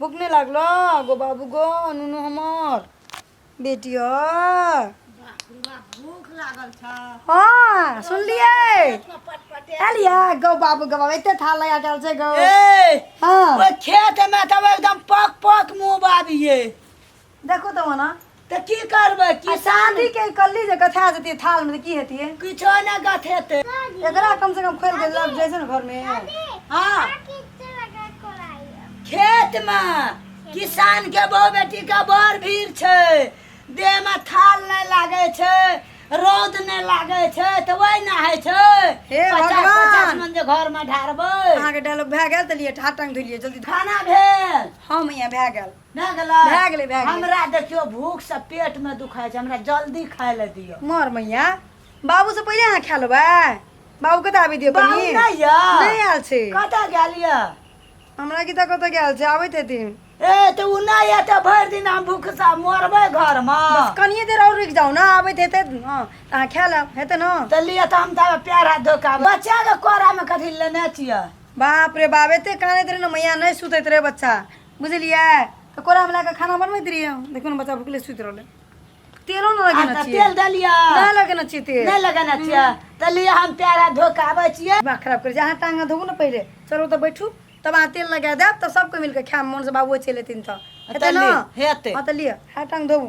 भूख नहि लागलो गो बाबू गो नुनू हमर बेटी भूख लागल छ हाँ सुनलिए एलिए गो बाबू गो बाबू एते थाल लगा गेल छै गो हाँ ओए खेत में तब एकदम पक पक मुंह बाबिए देखो तो मना तऽ की करबै कि की शादी के कल्ली जे गथा देती थाल में तो की हेती किछो ने गथ हेतै एकरा कम से कम खोल के लग जैसे ना घर में हाँ खेत मे किसान के बहु बेटी के बड़ भीड़ छै देह में थाल नहि लागै छै रौद नहि लागै छै तऽ वही ने होइ छै हे पचास भगवान! पचास मन जे घर में ढारबै अहाँ के डायलॉग भए गेल तो लिए ठाट टांग धुलिए जल्दी खाना भेल हम यहाँ भए गेल भए गेलै भए गेलै, भए गेलै। हमरा देखियो भूख से पेट में दुखाय छै हमरा जल्दी खाय ले दियो मर मैया बाबू से पहिले अहाँ खा लेबै बाबू के तऽ आबि दियौ बाबू कनी नहि यऽ? नहि आयल छै कतऽ गेल यऽ हमरा की तऽ कतऽ गेल छै आबैत हेथिन ए तऽ उ नहि यऽ तऽ भरि दिन हम भूख से मरबै घर में बस कनिये देर और रुकि जाउ ने आबैत हेतै हँ तऽ अहाँ खा लेब हेतै ने तऽ लिअ तऽ हम ताबे पैर हाथ धोके आबै बच्चा के कोरा में कथी लेने छियै बाप रे बाप एते कानैत रहे ने मैया नहि सुतैत रहे बच्चा बुझलियै तऽ कोरा मिला कऽ खाना बनबैत रहियै हम। देखियौ ने बच्चा भुखले सुति रहलै तेलो ने आ लगेने तऽ छियै तेल देलियै नहि लगेने छियै तेल नहि लगेने छियै तऽ लिअ हम पैर हाथ धो कऽ आबै छियै दिमाग खराब करै छै अहाँ टांग हाथ धोबू ने पहिले चलू तऽ बैठू तब अहाँ तेल लगा देब तऽ सबके मिलके खायब मोन से बाबुओ चलि एथिन तऽ हेतै तऽ ने ले, हेतै। हँ तऽ लिअ हाथ टांग धोबू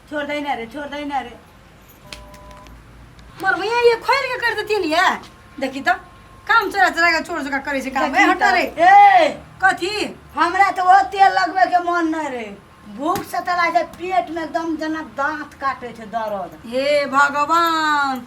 छोड़ दे ना रे छोड़ दे ना रे मोर भैया ये खोल के कर देती नहीं है देखी तो काम चला चला के छोड़ चुका करे से काम ए हटा रे ए कथी हमरा तो वो तेल लगबे के मन नहीं रे भूख से तला जे पेट में एकदम जना दांत काटे छे दर्द हे भगवान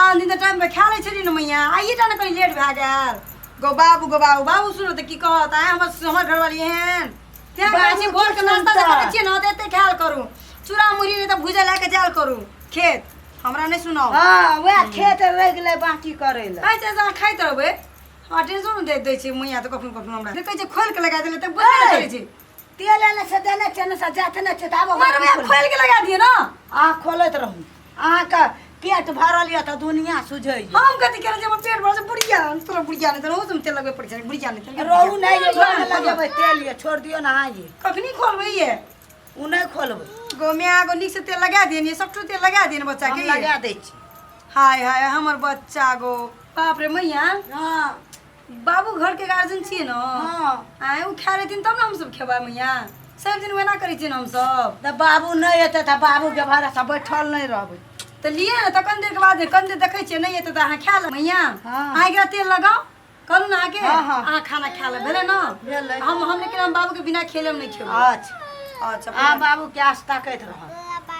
आन दिन टाइम पे खा ले छली न मैया आइए जाने कहीं लेट भए गेल गो बाबू गो बाबू बाबू सुनो तो की कहत आए हमर हमर घर वाली एहन क्या बाजी बाजी भोर के नाश्ता जे करे छियै ना त एते ख्याल करू चूड़ा मुरही नहीं त भुजा लेके जाल करू खेत हमरा नहीं सुनाओ हाँ वह खेत रह गए बाकी करे ला खाइ छै अहाँ खाइत रहबै आ टेंशन दे दै छै मैया तऽ कखनो कखनो हमरा देखै छै खोल के लगा देले तऽ बुझबे नहि करै छै तेल एने से देने छै ने से जाते ने छै दाबो मारबै आ खोल के लगा दिए ने आ खोलैत रहू अहाँके पेट भरल यऽ तऽ दुनिया सुझै हम कथी करै जब पेट भरल छै बुढ़िया हम तोरा बुढ़िया नहि तोरा तुम तेल लगबे पड़ै छै बुढ़िया नहि तोरा रहू नहि ये घर में लगेबै तेल ये छोड़ दियो ना अहाँ ये कखनी खोलबै ये उ नहीं खोलबै गो में आगो नीक से तेल लगा देनी सबठो तेल लगा देनी बच्चा हम के लगा दै छी हाय हाय हमर बच्चा गो बाप रे मैया हाँ बाबू घर के गार्जियन छिए न हां आए उ खा लेथिन तब न हम सब खेबा मैया सब दिन वेना करै छिए हम सब त बाबू नै एते त बाबू के भरा सब बैठल नै रहबै त लिए न त कन देर के बाद कन देर देखै छिए नै एते त अहाँ खा ल मैया हां आइ के तेल लगाओ करू ना आके हाँ, हाँ। अहाँ खाना खा ले भेले ना भेलै। हम हम लेकिन हम बाबू के बिना खेले हम नहीं खेबो अच्छा अच्छा आ बाबू के आस्था करैत रह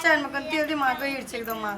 चल मकन तेल दे मार गई एकदम मार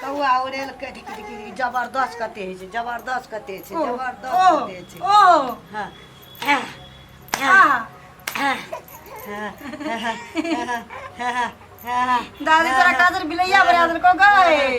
कौआ उड़ेल के कि- कि- कि- कि जबरदस्त कते होइ छै जबरदस्त कते छै ओह, जबरदस्त ओह, कते छै ओह, हाँ। आह, दादी तोरा कादर बिलैया बना देलको गए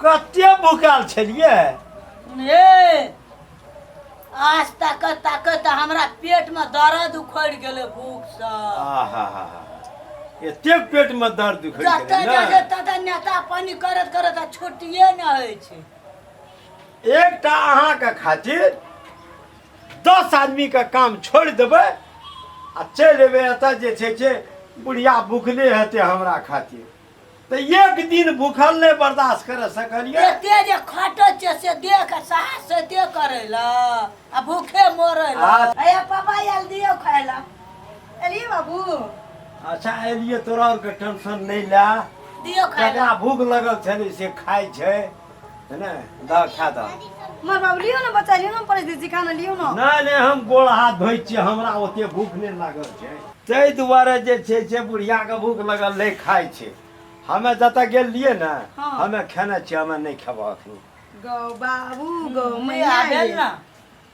कते भूखाल छलियै ए आज तक तक तऽ हमरा पेट में दर्द उखड़ गेले भूख से आहा एते पेट में दर्द उखड़ जते गेलै जते ने तते नेता पानी करत करत आ छुट्टिए न होइ छै एकटा अहाँके खातिर दस आदमी के काम छोड़ देबे आ चल एबे एतऽ जे छै से बुढ़िया भूखले हेतै हमरा खातिर तऽ एक दिन भूखल नहि बर्दाश्त कर सकलियै एते जे खटै छै से देह के साहस से ते करै ल आ भूखे मरै ल आ- अया पापा आयल दियो खाय ल एलिए बाबू अच्छा एलियै तोरा आरके टेंशन नहि लए दियो खाय ल जकरा भूख लगल छलै से खाइ छै है ना दा खा दा मार बाबू लियो ना बच्चा लियो ना पड़े दीदी खाना लियो ना नहीं नहीं हम गोड़ हाथ धोई छी हमरा ओते भूख नहीं लागल छै ताहि दुआरे जे छै से बुढ़िया के भूख लगल नहीं खाई छै हमे जतऽ गेल लिए ने हाँ। हमे खेने छी हमे नहीं खेबऽ अखनी गौ बाबू गौ मैया आबे ये। ना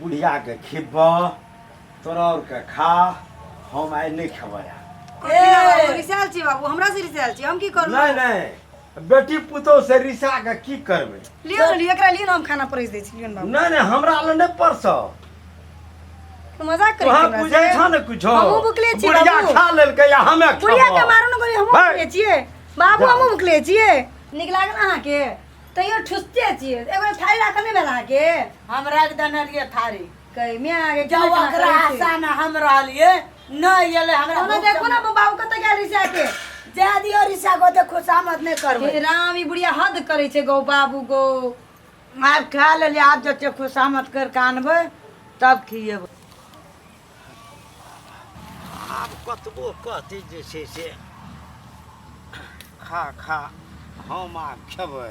बुढ़िया के खिब्ब तोरा और के खा हम आइ नहीं खेबै ए, रिसाल छी बाबू हमरा से रिसाल छी हम की करू नहीं नहीं बेटी पुतोह से रिसा के की करबै लियो न लियो एकरा लियो न हम खाना परोस दै छी लियो न बाबू नहीं नहीं हमरा ले नहीं परसौ तू मजाक करै तोहर छी बुझै छौ ने कुछो हमहूँ भुखले छी बुढ़िया बाबू। खा लेलकै या हमे बुढ़िया के खेबौ। मारू न गोली हमहूँ भाय। भुखले छियै बाबू जा। हमहूँ भुखले छियै नीक लागल अहाँके तैयो ठुसते छियै एगो थारी राखल नहि भेल अहाँके हम रख देने रहिए थारी कहि मे अहाँके जब केना ओकरा करै छी? आशा में हम रहलिए नहीं एले हमरा ओना भूख देखो ना बाबू कतऽ गेल रही से आके जा दियो रिसा को देखो सामत नहीं करबे हे राम ई बुढ़िया हद करै छै गौ बाबू गौ आब खा लेलिए आब जते खुशामत कर के आनबे तब खिएबे आब कतबो कहती जे छै से खा खा हम आब खेबै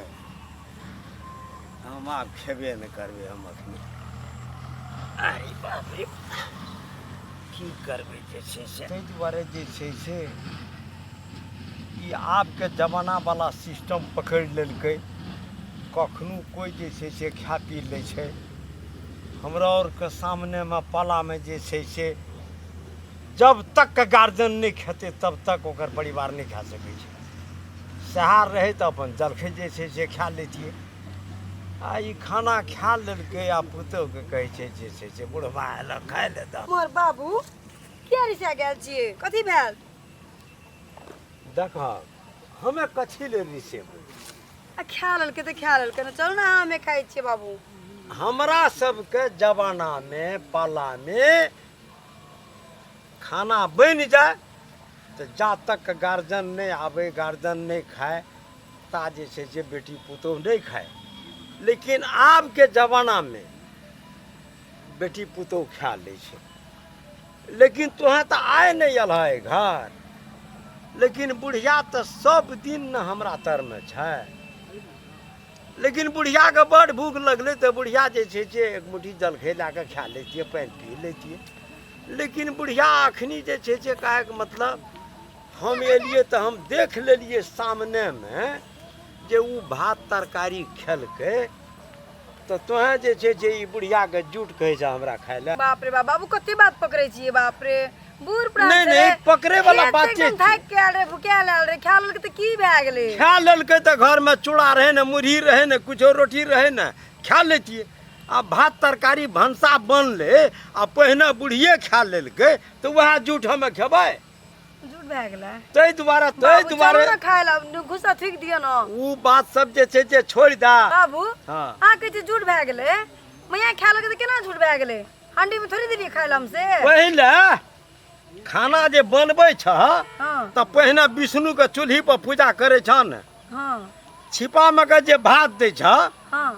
हम आब खेबे नहि करबै हम अखन अरे बाप रे की करबै जे छै से ताहि दुआरे जे छै से ई आबके जमानावला सिस्टम पकड़ि लेलकै कखनो कोइ जे छै से खा पी लै छै हमरा आओरके सामनेमे पालामे जे छै से जब तक गार्जियन नहि खेतै तब तक ओकर परिवार नहि खा सकै छै सएह रहै तऽ अपन जलखै जे छै से खा लैतियै आ ई खाना खा लेलकै आ पुतोहके कहै छै जे छै से बुढ़बा आयल खाय ले दऽ मोर बाबू किया रिसा गेल छियै कथी भेल देखह हमे कथी ले रिसेबै आ खा लेलकै तऽ खा लेलकै ने चलू ने अहाँ हमे खाइ छियै बाबू हमरा सबके जमानामे पालामे खाना बनि जाय तऽ जा तक गार्जियन नहि आबै गार्जियन नहि खाय ता जे छै से बेटी पुतोह नहि खाय लेकिन आबके जमानामे बेटी पुतोह खा लै छै लेकिन तोहें तऽ आइ नहि अल है घर लेकिन बुढ़िया तऽ सब दिन ने हमरा तरमे छै लेकिन बुढ़ियाके बड़ भूख लगलै तऽ बुढ़िया जे छै से एक मुट्ठी जलखै लए कऽ खा लैतियै पानि पी लैतियै लेकिन बुढ़िया अखनी जे छै से कहैके मतलब हम एलियै तऽ हम देख लेलियै सामनेमे जे ओ भात तरकारी खेलकै तऽ तोहे जे छै जे ई बुढ़ियाके जूट कहै छै हमरा खाय लए बाप रे बाप बाबू कते बात पकड़े छियै बाप रे बूढ़ प्राण नहि, छलै। नहि, पकड़े वाला खेत बात एकदम छै। थाकि के आयल रहे भुखिया आयल रहे खा लेलकै तऽ की भए गेलै खा लेलकै तऽ घरमे चूड़ा रहै ने मुरही रहै ने किछो रोटी रहै ने खा लैतियै आ भात तरकारी भनसा बनलै आ पहिने बुढ़िए खा लेलकै तऽ उएह जूठ हमे खेबै जुड़ भए गेलै ताहि दुआरे ताहि बाबू, चलू दुआरे ने खाय लए गुस्सा थूक दिअ ने ओ बात सब जे छै जे छोड़ि दा बाबू हँ। अहाँ कहै छी जुड़ भए गेलै मैया खाय लगे तऽ केना जुड़ भए गेलै हांडी में थोड़ी देलियै खाय लए हमसे पहिले खाना जे बनबै छह हँ तऽ पहिने विष्णुके चूल्ही पर पूजा करै छह ने हँ छिपामे के जे भात दै छ हँ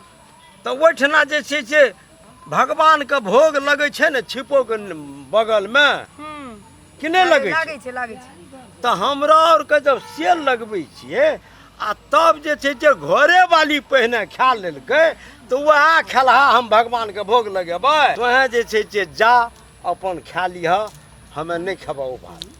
तऽ ओहिठिना जे छै से भगवानके भोग लगै छै ने छिपोके बगलमे हूँ कि नहि लगै छै लागै छै लागै छै तऽ हमरा आरके जब सेल लगबै छियै आ तब जे छै जे घरे वाली पहिने खा लेलकै तऽ उएह खेलहा हम भगवानके भोग लगेबै तोहें जे छै जे जा अपन खा लिह हमे नहि खेबौ ओ भात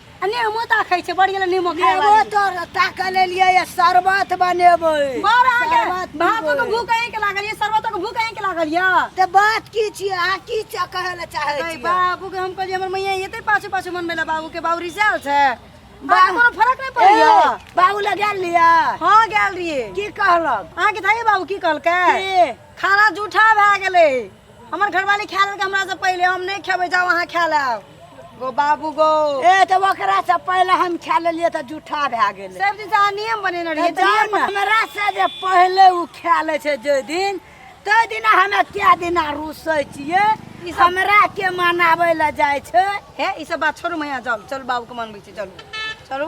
अने मोता खाइ छै बढ़िया नीमक खाय नेबो वाली तोर ताकऽ ले लिए ये शरबत बनेबै बार अहाँ के शरबत भातो के पीबै। भूख अहीं के लागल ये शरबतो के भूख अहीं के लागल ये ते बात की छियै अहाँ की च- कहै लए चाहै अरे छियै बाबू के हम कहलिए हमर मैया एते पाछे पाछे मन मेला बाबू के बाबू रिजाल छै बाबू कोनो फर्क नहीं पड़ैया ए, बाबू लग गेल लिया हां गेल रहिए की कहलक अहाँ के धाई बाबू की कहलकै की? खाना जूठा भए गेलै हमर घरवाली खा लेलकै हमरा से पहिले हम नहीं खेबै जाओ अहाँ खा लेब गो बाबू गो ए त ओकरा से पहिले हम खा लेलिए त जूठा भए गेलै सब दिन अहाँ नियम बनेने रहिए तऽ नियम हमरा से जे पहिले उ खा ले छै जे दिन ते दिन हमे कए दिन रुसै छियै ई हमरा के मनाबै ले जाइ छै हे ई सब बात छोड़ू मैया जाओ चलू बाबू के मनबै छी चलू चलू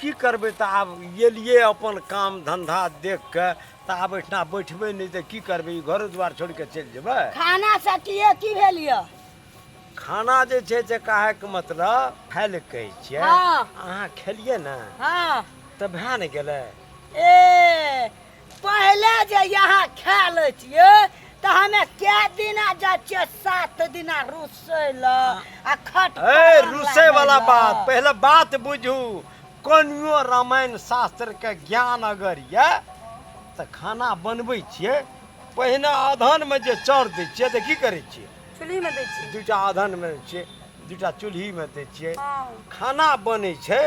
की करबै तऽ आब एलियै अपन काम धंधा देख के तऽ आब एहिठिना बैठबै नहि तऽ की करबै ई घरो दुआर छोड़ि कऽ चलि जेबै खाना सटिए की भेल यऽ खाना जे छै से कहैके मतलब खाय लए कहै छियै हँ। अहाँ खेलियै ने हँ तऽ भए ने गेलै ए पहिले जे यहाँ खा ले छियै तऽ हमे कै दिना जाइ छियै सात दिना रुसै लए आ खट ए रुसे वाला बात पहले बात बुझू कोनियो रामायण शास्त्र के ज्ञान अगर ये तऽ खाना बनबै छियै पहिने अधन में जे चर दै छियै तऽ की करै छियै चुल्ही में दै छियै दूटा अधन में छियै दूटा चूल्ही में दै छियै खाना बनै छै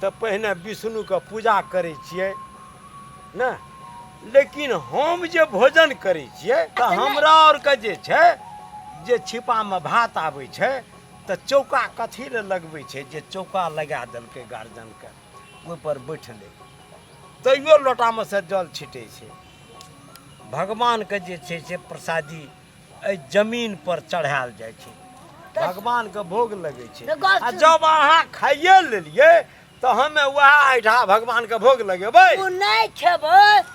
तऽ पहिने विष्णु के पूजा करै छियै ने लेकिन हम जे भोजन करै छियै तऽ अच्छा, नहि। हमरा आरके जे छै जे छिपामे भात आबै छै तऽ चौका कथी लए लगबै छै जे चौका लगा देलकै गार्जियनके ओहिपर बैठलै तैयो लोटामे से जल छिटै छै भगवानके जे छै से प्रसादी एहि जमीन पर चढ़ायल जाइ छै भगवानके भोग लगै छै तऽ गलत- आ जब अहाँ खाइए लेलियै तो हमें वह आइठा भगवान के भोग लगेबै तू नहीं खेबो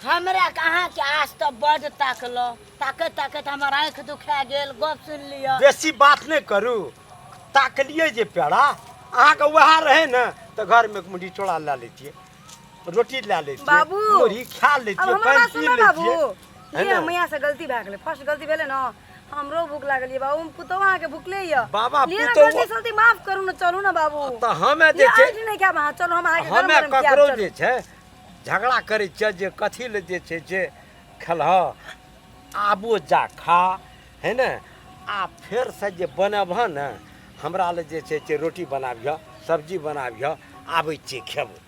हमरा कहाँ के आज तो बड ताकलो ताकत ताकत हमर आँख दुखा गेल गप सुन लियो बेसी बात नहीं करू ताकलिए जे पेड़ा अहाँ के वह रहे न तो घर में एक मुट्ठी चोड़ा ला लेतिए रोटी ला लेतिए बाबू, मुरही खा अब लेतिए हमर पानि बात पी सुनो बाबू लेतिए है ये ना? मैया से गलती भए गेलै फर्स्ट गलती भेलै ने हमरो भूख लागल ये बाबू हम पुतौ अहाँ के भूखले ये बाबा, लिए ना पुतौआ- गलती सलती माफ करू ना चलू ना बाबू तऽ हमे जे ये छै आज नहि क्या वहाँ चलो हम अहाँ के गरम हमे गरम खियाब, ककरो चलू। जे छै झगड़ा करै छियै जे कथी लए जे छै जे खेलह आबो जा खा है ने आ फेरसँ जे बनबह ने हमरा लए जे छै जे रोटी बनाबिह सब्जी बनाबिह आबै छियै खेबो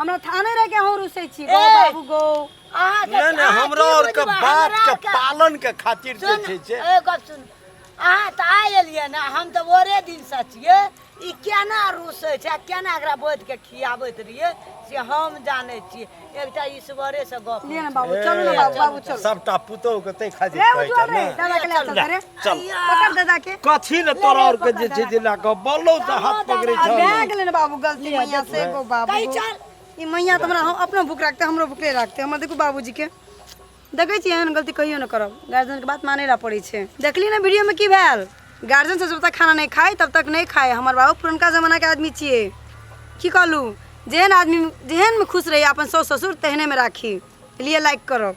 हमरा थाने रह के अहूँ रुसै छी गौ बाबू गौ अहाँ नहि नहि हमरा आओर के बात के पालन के खातिर जे छै से ए गप सुन अहाँ तऽ आइ एलियै ने हम तऽ ओरे दिन से छियै ई केना रूसै छै आ केना एकरा बोध के खियाबैत रहियै से हम जानै छियै एकटा ईश्वरे से गप लिअ ने बाबू चलू ने बाबू बाबू चलू सबटा पुतोह के तै खातिर रे कहै उज्जवल छै रे ने दादा के ले चल रे चल पकड़ दादा के कथी ले तोरा और के जे छै जे ला के बोलो से हाथ पकड़े आ भए छै गेलै ने बाबू गलती मैया से गो बाबू कहीं गो। चल। ई मैया तऽ हमरा हम अपनो भूख राखते हमरो भूख नहि राखते हमर देखू बाबूजी के देखै छी एहन गलती कहियो नहि करब गार्जियन के बात मानै ला पड़ै छै देखली ने वीडियो में की भेल गार्जियन से जब तक खाना नहीं खाए तब तक नहीं खाए हमर बाबू पुरनका जमाना के आदमी छिए की कहलू जेहन आदमी जेहन में खुश रही अपन सास ससुर तेहने में राखी लिए लाइक करब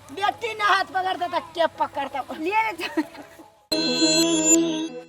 बेटी ने हाथ पकड़ता त के पकड़ता ले रे